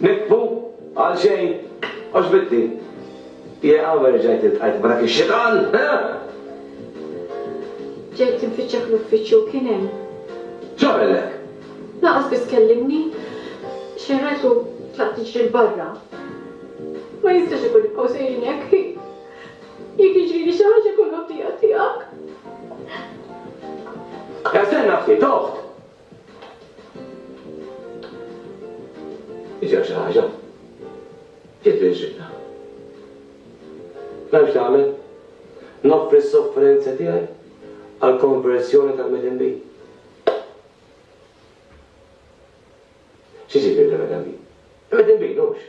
Nitfu? Għalxejn? Għoġbitni? Jaqaw erġajt iltqajt ma' dak ix-xitan, eħ! Ġejt infittxek fl-uffiċċju u kien hemm. X'għamellek? Lanqas biss kellimni. Xejn rajtu tlaqt tiġri 'l barra. Ma jistax ikun nibqgħu sejrin hekk, hi? Jekk jiġrili xi ħaġa jkun ħaddieha tiegħek. Estenna ftit, oħt! Ġew xi ħaġa. Ġiet l-inxibna. Naf x'nagħmel. Noffri s-sofferenza tiegħi għall-konverżjoni tal-Medem Bi. X'jiġifieri l-Medem Bi? Il-Medem Bi, hux?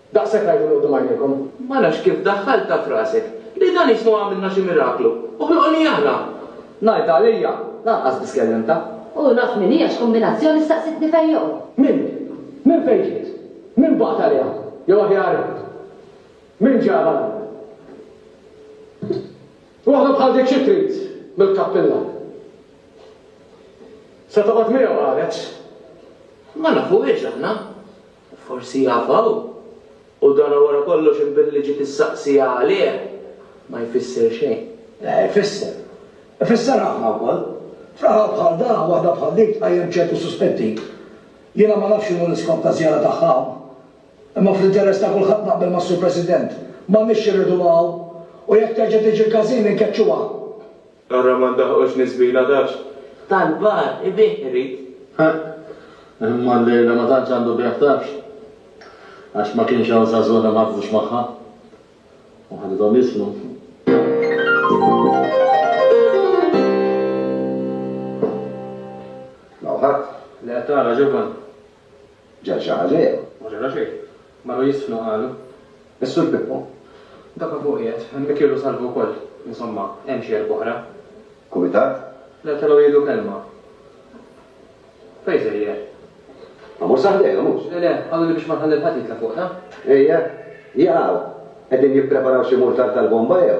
Daqshekk għiduli quddiem għajnejkom. Ma nafx kif daħħaltha f'rasek li dan jismu għamilna xi miraklu u ħloqni aħna! Ngħid għalija, lanqas biss kellimtha. U naf min hi għax kombinazzjoni staqsitni fejn joqgħod. Min? Minn fejn ġiet? Min bagħat għaliha? Jew aħjar għidt, min ġabha l-hawn? Waħda bħal dik xi trid mill-kappilla? Se toqgħod miegħu qalet. Ma nafuhiex aħna. U forsi jaf hawn. U dan wara kollox in billi ġiet issaqsija għalih, ma jfisser xejn. Le, ifisser. Ifisser ħafna wkoll. F'raħal bħal dan, waħda bħal dik tqajjem ċertu suspetti. Jiena ma nafx x'inhu l-iskop taż-żjara tagħha hawn. Imma fl-interess ta' kulħadd naqbel mas-Sur President. M'għandniex xi rridu hawn. U jekk terġa' tiġi l-każin, inkeċċuha. Ara ma ndaħqux niżbila dax. Tal-bar ibigħ irid. Ħaqq, imma llejla ma tantx għandu bigħ tafx. Għax ma kienx hawn żagħżugħna ma ħafdux magħha. U ħadithom jisnu. M'hawn ħadd? Le, tara Ġovan. Ġa ġara xejn. Ma ġara xejn. Marru jiżfnu qalu. Is-Sur Pippo. Daka fuq qiegħed. Hemmhekk irdu salvu wkoll. Insomma, hemm xi erb'oħra. Kumitat? Le, telgħu jgħidu kelma. Fejn sejjer? Ma mhux sa ħdejna, mhux? Le, le, qalu li biex ma nħalli l-ħadd jitla' fuq, taf? Ejja, jaqgħu. Qegħdin jippreparaw xi murtal tal-bomba jew?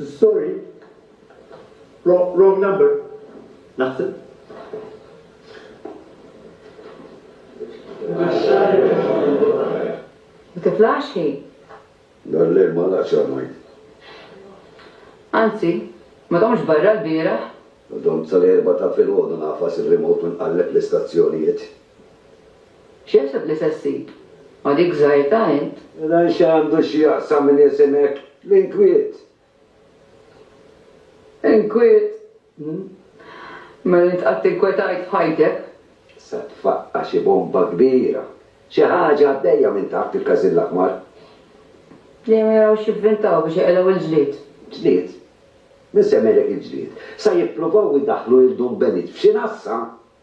Sorry. Wrong, wrong number. Naħseb. Ma tiflax hi. Dan l-lejl ma laqx għamajn. Anzi, ma domx barra l-biraħ. Dom tal-erba ta' fil-ħodu nafas il-remote minn qalleb l-istazzjonijiet. X'jaħseb li se ssib, ma' dik żgħirtà int? Mela x'għandu x'jaqsam min jisimek? L-inkwiet! Inkwiet? Hm. Mela int qatt inkwetajt f'ħajtek? Sa tfaqqa' xi bomba kbira! Xi ħaġa għaddejja minn taħt il-każin l-aħmar. Dejjem jaraw x'jivvintaw biex iqelgħu l-ġlied. Ġlied? Min semmejlek il-ġlied? Sa jippruvaw idaħħlu lil Dun Benit f'xi nassa?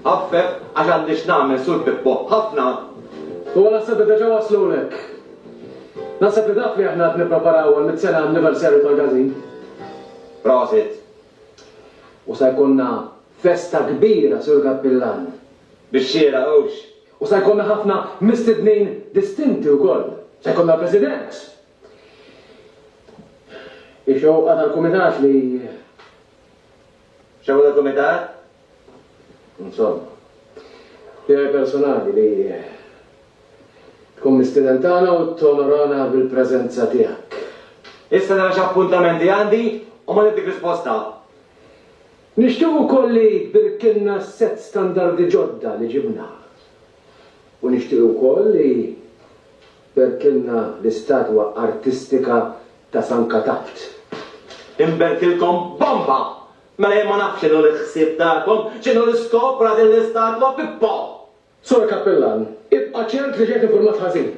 Għaffef, għax għandi x'nagħmel, Sur Pippo, ħafna! Huwa naħseb li deġa waslulek. Naħseb li taf li aħna qed nippreparaw għall-mitt sena anniversarju tal-gazin. Prosit! U sa jkollna festa kbira, Sur Kappillan. Bix-xieraq, hux? U sa jkollna ħafna mistednin distinti wkoll. Se jkollna l-President. Hi xewqa tal-Kumitat li. Xogħol tal-Kumitat? Insomma. Tiegħi personali li tkun mistieden tagħna u tonorana bil-preżenza tiegħek. Issa nara x'appuntamenti għandi u mbagħad nittik risposta. Nixtiequ wkoll li tbirkilna s-sett standardi ġodda li ġibna. U nixtiequ wkoll li. Berkilna l-istatwa artistika ta' San Katabt! Inberkilkom bomba! Mela jien ma nafx x'inhu l-ħsieb tagħkom, x'inhu l-iskop wara din l-istatwa, Pippo! Sur Cappellan, ibqa' ċert li ġejt infurmat ħażin.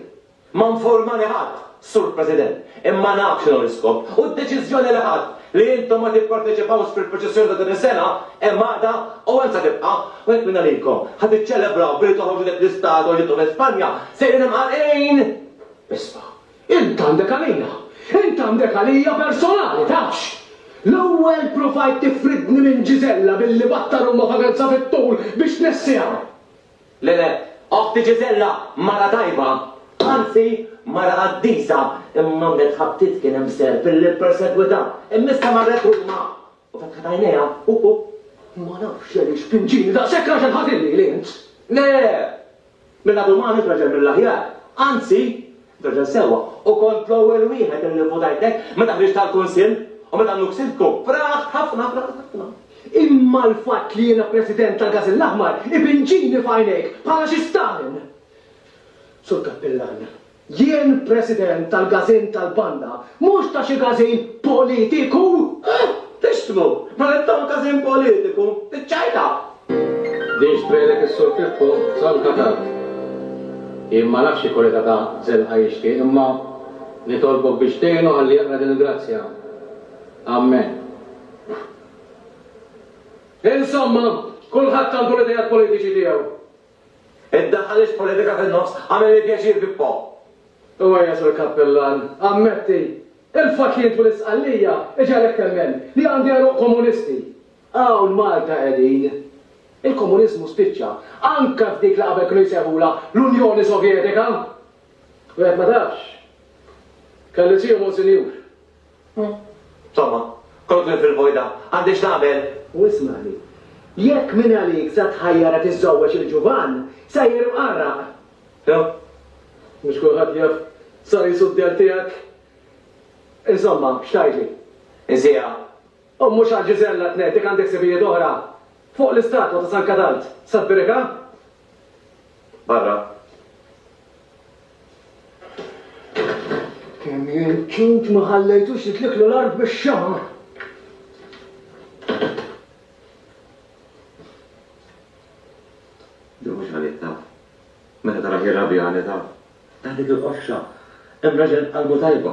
Ma nfurmani ħadd, Sur President, imma naf x'inhu l-iskop u d-deċiżjoni li ħadt Li intom ma tipparteċipawx fil-proċessjoni ta' din is-sena hemm għaqda u hemm sa tibqa', u jekk minn għalikom ħa tiċċelebraw billi toħorġu dik l-istad u ġibtu minn Spanja, sejrin imqanqlin! Isma', int għandek għalija, int għandek għalija personali, tafx! L-ewwel provajt tifridni minn Gisella billi battar umma f'emerġza fit-tul biex tnessiha. Le, le, oħti Ġiżella mara tajba, anzi, mara qaddisa, imma għamlet ħabtiet kien hemm serp illi ppersegwitha, imma issa marret Ruma u fetħet għajnejha, u, u. Ma nafx għaliex kien ġieni daqshekk raġel ħażin lili int! Le, le! Minn għadu m'għamilx raġel mill-aħjar, anzi, Raġel sewwa, u kont l-ewwel wieħed li nivvutajtek meta ħriġt għall-Kunsill u meta nnu ksibtku. Fraħt ħafna, fraħt ħafna. Imma l-fatt li jiena President tal-Gażin l-Aħmar ibinġini f'għajnejk bħala xi Stalin! Sur Kappillan, jien President tal-Gażin tal-Banda, mhux ta' xi gażin politiku! Eħ! Tixtmu! Mela intom gażin politiku! Iċ-ċajta! Din x'tbegħlek is-Sur Pippo Zolka tard. Jien ma nafx xi kolega ta' Żelqa jixtieq imma nitolbok biex tgħinu ħalli jaqra din il-grazzja. Ammen. Insomma, kulħadd għandu l-ideat politiċi tiegħu. Iddaħħaliex politika fin-nofs, għamilli pjaċir Pippo. U ejja Sur Kappillan, ammetti, il-fatt li int u l-Isqallija iġegħlek temmen li għandi għeruq komunisti. Hawn Malta qegħdin. Il-komuniżmu spiċċa, anke f'dik li qabel kienu jsejħulha l-Unjoni Sovjetika! Wieħed ma tafx. Kelli Sir Monsinjur. Insomma, kont lil fil-vojta. Għandi x'nagħmel? U ismagħni. Jekk min għalik sa tħajjarha tiżżewweġ il-ġuvan, sejjer imqarraq. Ew. Mhux kulħadd jaf sar isu d-dell tiegħek. Insomma, x'tgħidli? Insieha. U mhux għal Giselle Athletic għandek sibijiet oħra fuq l-istatwa ta' San Kadalt, Sad Birika? Barra. Kemm jien ċut ma ħallejtux jitliklu l-art bix-xagħar! Din mhux għalidna. Meta tarah jirrabja għanidha. Għalik il-qofxa. Hemm raġel qalbu tajba.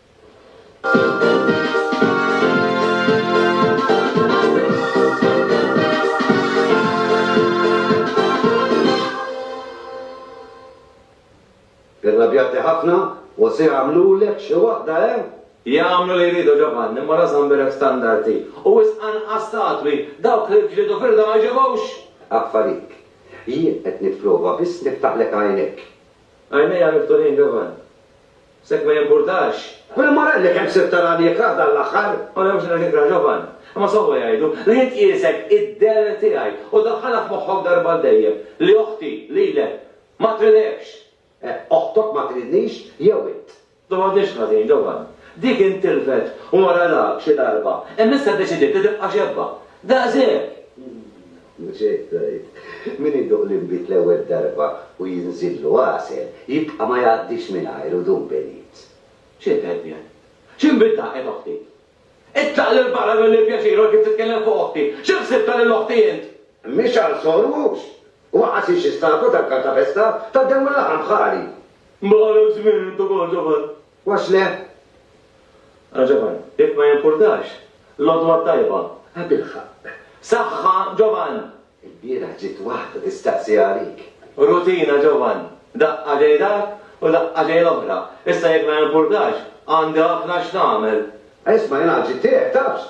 Irrabjati ħafna u se jagħmlulek xi waħda eh? Jagħmlu li jridu Ġovanni, imma rażan birek standarti. U wisq anqas statwi, dawk li ġlidu firda ma jġibux! Affalik. Jien qed nipprova biss niftaħlek għajnejk. Għajnejja miftuħin Ġovanni. S'hekk ma jimpurtax. Quinn Morelli kemm sirt tarani ikrah dan l-aħħar? Ma nafx nek ikrah ġovan. Imma sewwa jgħidu li int qiesek id-deher tiegħi u daħħalha f'moħħok darba għal dejjem li oħti, lilek, ma tridekx. Eh, oħtok ma tridnix jew int? Ma m'għadniex ħażin, ġovan. Dik intilfet u maralha xi darba, imma issa ddeċidiet li tibqa' xebba. Daqshekk! Mhux hekk tgħid? Min iduq l-inbid l-ewwel darba u jinżillu għasel, jibqa' ma jgħaddix mingħajru dum benit. X'inhi d-dehebija? Xi nbid daħqet oħti? Itlaq 'l barra minn li pjaċir u kif titkellem fuq oħti! Xi ħsibtha lil oħti int? Mhi xahar sor mhux? U aqqas hi xi statwa tal-Kartapesta? Tad-demm u l-laħam bħali! Bħalek żmien int ukoll, Ġofan. Għax le? Ara Ġovan, jekk ma jimpurtax, l-għodwa t-tajba! A bilħaqq! Saħħa Ġovan! Ilbieraħ ġiet waħda tistaqsi għalik. Rutina Ġovan, daqqa ġej dak u daqqa ġej l-oħra. Issa jekk ma jimpurtax, għandi ħafna x'nagħmel. Isma' jien għad ġiet tiegħek, tafx?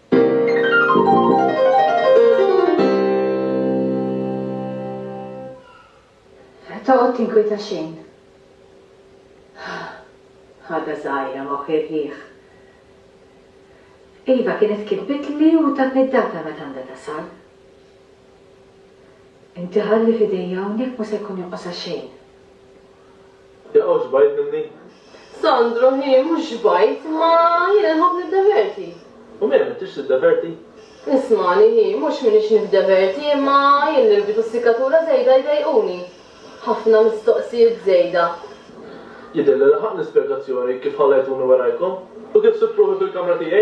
Toqgħod tinkwieta xejn. Ħaga żgħira ma ħirħieħ. Iva kienet kitbitli u tatni d-data meta għandha tasal. Inti ħalli f'idejja hawnhekk ma se jkun jonqosha xejn. Jaqaw xbajt minni? Sandro, Hi mhux xbajt, imma jiena nħobb niddeverti. U mela m'intix tiddeverti? Ismagħni, Hi mhux m'iniex niddeverti, imma jien l-irbit u s-sikkatura żejda jdejquni. Ħafna mistoqsijiet żejda. Jidhirli laħaqtni spjegazzjoni kif ħallejtuni warajkom u kif sibt ruħi fil-kamra tiegħi.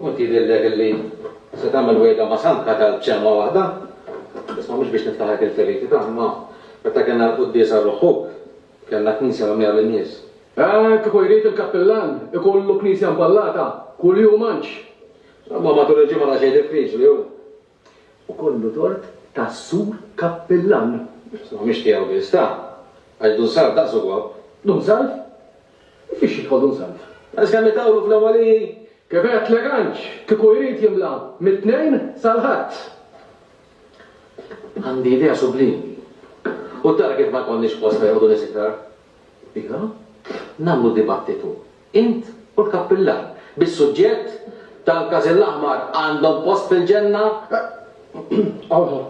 U inti jidhirlek illi se tagħmel wegħda ma' Santa Kal b'kelma waħda? Isma' mhux biex niftaħlek il-feriti ta' imma meta kellna l-quddiesa għal ruħħuk, kellna knisja mimlija bin-nies. Eh, kieku jrid il-kappillan ikollu knisja mballata kuljum għandx. Imma matul il-ġimgħa daqsxejn diffiċli hu. u kollu tort ta' Sur Cappellan. Insomma, mhix tiegħu biss, ta'! Għax Dun Salv daqsu gwaww. Dun Salv? U fiex jidħol Dun Salv? Għax kemm itawlu fl-Awgħaliji? Kif għedt Leganċ, kieku jrid jimla mit-Tnejn sal-Ħadd. Għandi idea sublimi. U tara kif ma jkollniex post fejn joqogħdu nies iktar? Iva, nagħmlu dibattitu Int u l-kappillan, bis-suġġett tal-każin l-aħmar, għandhom post fil-Ġenna? Aha,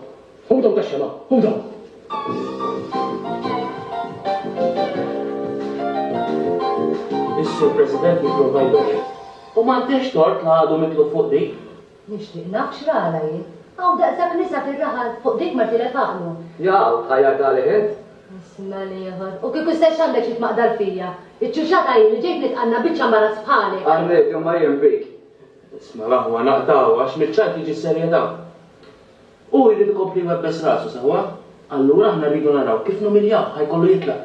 ħudhom tax-xema', ħudhom! Is-Sur President jipprova jbegħed. U m'għandekx tort la għadu mitlu fuq dik. Nixtieq naf x'ralha hi. Hawn daqshekk nisa fir-raħal, fuq dik mar tilef għaqlu. Jaqaw, tħajjar ta' leħen. Isma' l-ieħor. U kieku stess x'għandek xi tmaqdar fija? Iċ-ċuċata hi li ġejt nitqanna biċċa mbarazz bħalek. Arrejt, imma jien bik. Isma' l-aħwa naqtgħu għax miċ-ċajt tiġi s-serjetà. Hu jrid ikompli jwebbes rasu sewwa. Allura aħna rridu naraw kif numiljawh, ħa jkollu jitlaq.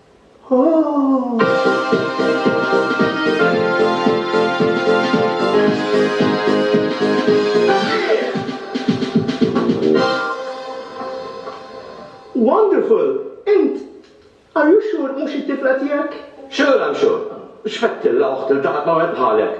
Wonderful! Int, are you sure mhux it-tifla tiegħek? Sure I'm sure. X'fettilla oħt iltaqgħet ma' wieħed bħalek!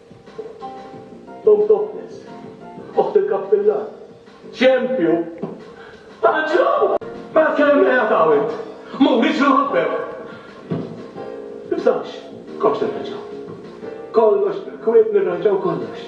Tom Topless, Oħt il-Kap Pillar, xempju ta' ġraw! Mela tkellem qiegħed hawn int, m'huwiex imħabbeb! Tibżax, kollox nirranġaw. Kollox bil-kwiet nirranġaw kollox.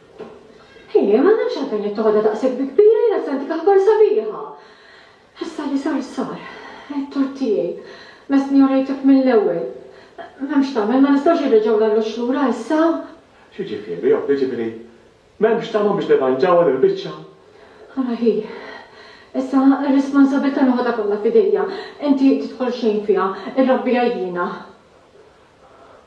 Hi, ma nafx għalfejn qed toħodha daqshekk bi kbira, jiena sentik aħbar sabiħa. Issa li sar sar. Ettore tiegħi, mestni orejtek mill-ewwel. M'hemmx tagħmel, ma nistgħux inreġgħu l-allux lura issa. X'jiġifieri, omm, jiġifieri m'hemmx tama biex nirranġawha din il-biċċa? Ara hi, issa r-responsabbiltà noħodha kollha f'idejja. Inti tidħol xejn fiha, irrabbiha jiena.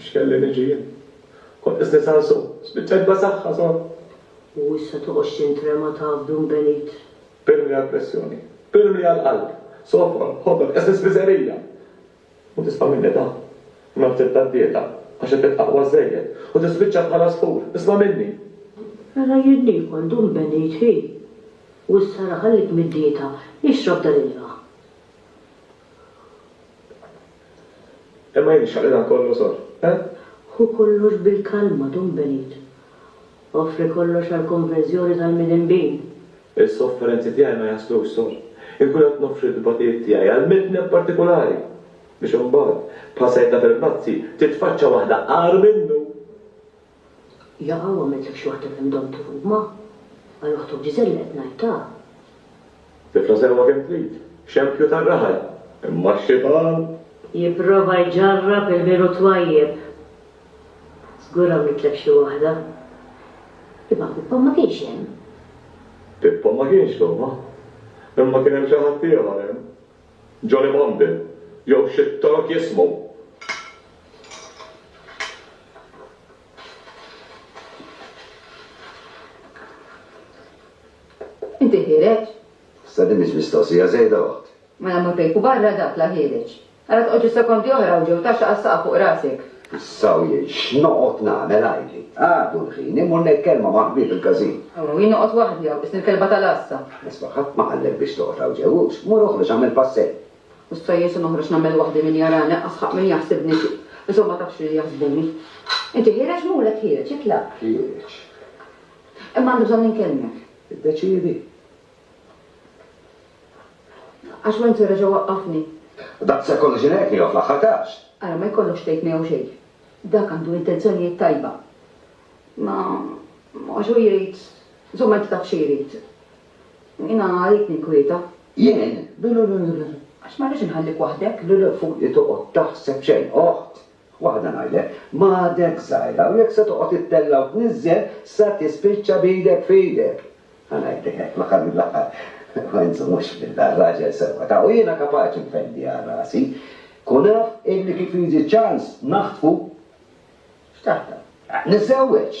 X'kelli niġi jien? Kont qisni sansu, spiċċajt b'asaħħa sod. U issa toqgħodx tintrema taf dun benit. Pirmli għall-pressjoni, pirmli għall-qalb, sofqol, ħodol, qisni spiżerija! U tisma' minni da! Nazzett tad-dieta, għax qed tibqa' aqwa żżejjed, u tispiċċa bħal għasfur, isma' minni! Mela jien niekol dun benit hi! U issa ara ħallik mid-dieta, ixrob dan il-ma. Imma jien nixtaq li dan kollu sor, eh? Ħu kollox bil-kalma, Dun Benit. Offri kollox għall-konverżjoni tal-midinbin. Is-sofferenzi tiegħi ma jaslux, sor. Inkun qed noffri t-tbatijiet tiegħi għal midneb partikulari, biex imbagħad, bħal sajdna fil-brazzi, titfaċċa waħda agħar minnu! Jaqaw għamilt lek xi waħda kemm domt tħobb ma. Għal oħtok Giselle li qed ngħid ta. Tifla sewwa kemm trid. Xempju tar-raħal. Imma x-xitan. Jipprova jġarrab il-biru twajjeb. Żgur għamilt lek xi waħda. Imma Pippo ma kienx hemm. Pippo ma kienx, Toma. Imma kien hemm xi ħaddieħor hemm. Jolly Monday, jew xi Tork jismu. Inti ħiereġ? Issa din mhix mistoqsija żejda, oħt. Mela mur pejpu barra dak la ħiereġ. Ara toqgħodx is-sekondi oħra u ġew taxxa għas-saqaf fuq rasek. Issa u jgħid, X'noqgħod nagħmel għajli? Għadu l-ħin, immur ngħid kelma ma' ħbieb il-każin. Hawn u jien noqgħod waħdi hawn, qisni l-kelba tal-għassa. Isma', ħadd ma qallek biex toqgħod hawn ġew hux. Mur oħroġ agħmel passejj. Mhux sa Jesu noħroġ nagħmel waħdi min jarani, anqas ħaqq min jaħsibni xi. Insomma ma tafx li jaħsbuni. Inti ħiereġ murek ħiereġ, itlaq. Ħiereġ. Imma għandi bżonn inkelmek. Iddeċiedi. Għax Wenzel reġa' waqqafni. Daqshekk kollox ingħid miegħu fl-aħħar każ. Ara ma jkollokx tgħid miegħu xejn. Dak għandu intenzjonijiet tajba. Imma għax hu jrid, insomma inti taf xi jrid. Jiena għalik ninkwieta. Jien? Le le le le. Għax ma rridx inħallik waħdek. Le le, fuqi toqgħod taħseb xejn, oħt. Waħda ngħidlek, ma għadekx żgħira u jekk se toqgħod ittella' u tniżżel sa tispiċċa b'idek f'idek. Ħa ngħidlek hekk, fl-aħħar mill-aħħar, ma inżommux f'dilla, raġel sewwa ta' u jiena kapaċi nfendi għal rasi. Kun af illi kif jiġi ċans naħtfu, x'taħdem? Niżżewweġ!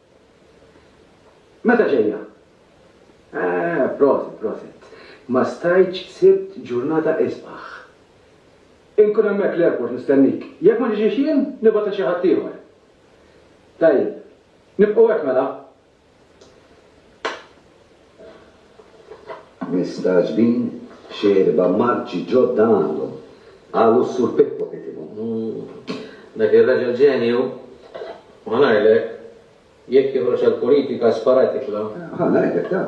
Meta ġejja? Eeh, proset, proset. Ma stajtx sibt ġurnata isbaħ. Inkun hemmhekk l-airport nistennik. Jekk ma niġix jien, nibgħat lil xi ħadd ieħor. Tajjeb. Nibqgħu hekk mela? Mistagħġbin x'erba' marċi ġodda għandhom, qalu s-Sur Pippo Pitimo. Dak ir-raġel ġenju, ħa ngħidlek, jekk joħroġ għall-politika sparat jitla'. Ħa ngħidlek ta',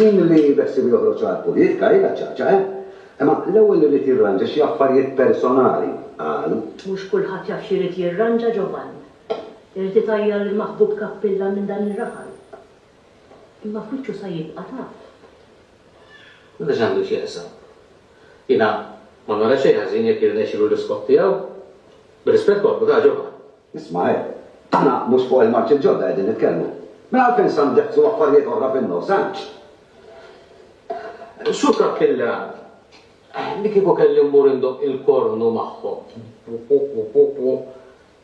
min li beħsiebu joħroġ għall-politika hi l-għaċċaċċa, eh? Imma l-ewwel irid jirranġa xi affarijiet personali, qal. Mhux kulħadd jaf x'irid jirranġa ġo vann. Irid itgħajjar lill-maħbub Kappilla minn dan ir-raħal. Imma f'wiċċu sa jibqa' taf. Mela x'għandu x'jaqsam? Jiena ma nara xejn ħażin jekk jirnexxilu l-iskop tiegħu. Bir-rispett kollu, ta' Ġofan. Ismagħel, aħna mhux fuq il-marċi l-ġodda qegħdin nitkellmu. Mela għalfejn sa ndeqqsu affarijiet oħra fin-nofs, għandx? Sur Kappilla, li kieku kelli mmur indoqq il-kornu magħhom,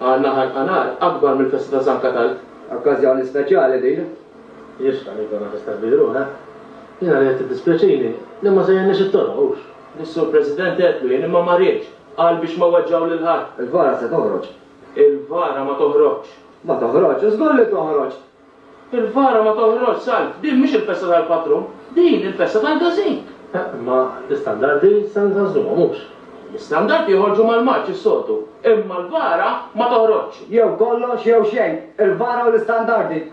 Għandna ħarqa nar akbar mill-festa ta' San Katalg. Okkażjoni speċjali din. Jixraq li jkollna festa kbira u hekk. Jiena rajt tiddispjaċini li ma żejjenniex it-toroq, hux? Lis-Sur President għedtlu jien imma ma riedx, qal biex ma weġġgħu lil ħadd. Il-vara se toħroġ? Il-vara ma toħroġx. Ma toħroġx? Żgur li toħroġ! Il-vara ma toħroġx salb. Din mhix il-festa tal-patrun. Din il-festa tal-gazink. Eh, imma l-istandardi se nfażluhom, mhux? L-istandardi joħorġu mal-Marċ is-soltu, imma l-vara ma toħroġx. Jew kollox jew xejn. Il-vara u l-istandardi.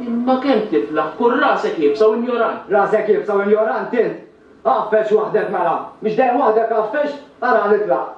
Imma kemm tiflaħ, kun rasek iebsa u injorant. Rasek iebsa u injorant int! Għafex waħdek mela. Mhix dejjem waħdek għafex? Ara nitlaq.